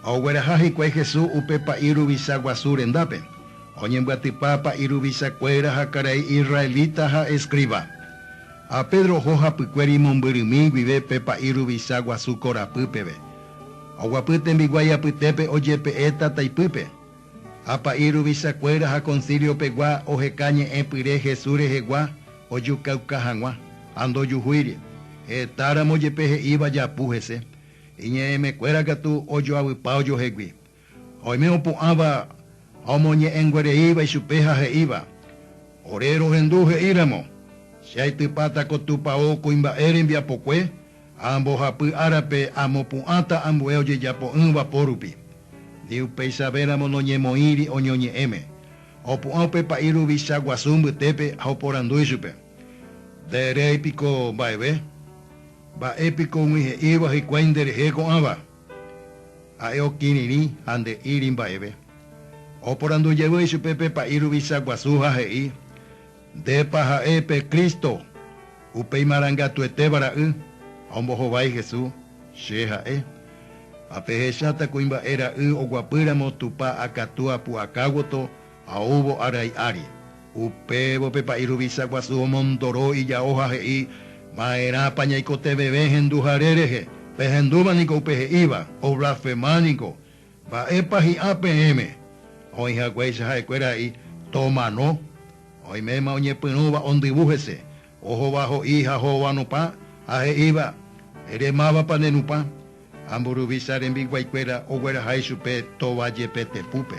Ha ogueraha hikuái Jesús upe pa'i ruvicha guasu rendápe, oñembyatypa pa'i ruvicha kuéra ha karai israelita ha escriba. Ha Pedro oho hapykuéri imombyrymi guive pe pa'i ruvicha guasu korapy peve. Oguapy tembiguái apytépe ojepe'e tataipýpe. Ha pa'i ruvicha kuéra ha concilio pegua oheka ñe'ẽ pyre Jesús rehegua ojukauka hag̃ua, ha ndojuhúiri, hetáramo jepe he'íva japu hese. Iñe'ẽmekuéra katu ojoavypa ojohegui. Ha oime opu'ãva ha omoñe'ẽnguereíva ichupe ha he'íva, Ore rohendu he'íramo, Che aitypáta ko Tupao kuimba'e rembiapokue ha ambohapy árape amopu'ãta ambue ojejapo'ỹva pórupi. Ni upeichavéramo noñemoĩri oñoñe'ẽme. Opu'ã upe pa'i ruvicha guasu mbytépe ha oporandu ichupe, Nde erei piko mba'eve? Mba'e piko umi he'íva hikuái nde rehe ko'ãva? Ha'e okirirĩ ha nde'íri mba'eve. Oporandu jevy ichupe pe pa'i ruvicha guasu ha he'i, Ndépa ha'e pe Cristo, upe imarangatuetéva Ra'y? Ha ombohovái Jesús, Che ha'e. Ha pehecháta kuimba'e Ra'y oguapy ramo Tupã akatúa pu'akáguoto Ha oúvo arai ári, upévo pe pa'i ruvicha guasu omondoro ijao ha he'i, Ma'erãpa ñaikoteveve henduhare rehe? Pehendúva niko upe he'íva, oblasfema niko. Mba'épa hi'ã peẽme? Oĩ haguéicha ha'ekuéra he'i, Tomano. Oiméma oñepyrũva ondyvu hese, ohova ho'i ha ho'ova nupã, ha he'íva, Ere mávapa ne nupã? Ha mburuvicha rembiguaikuéra ogueraha ichupe tova jepe tepúpe.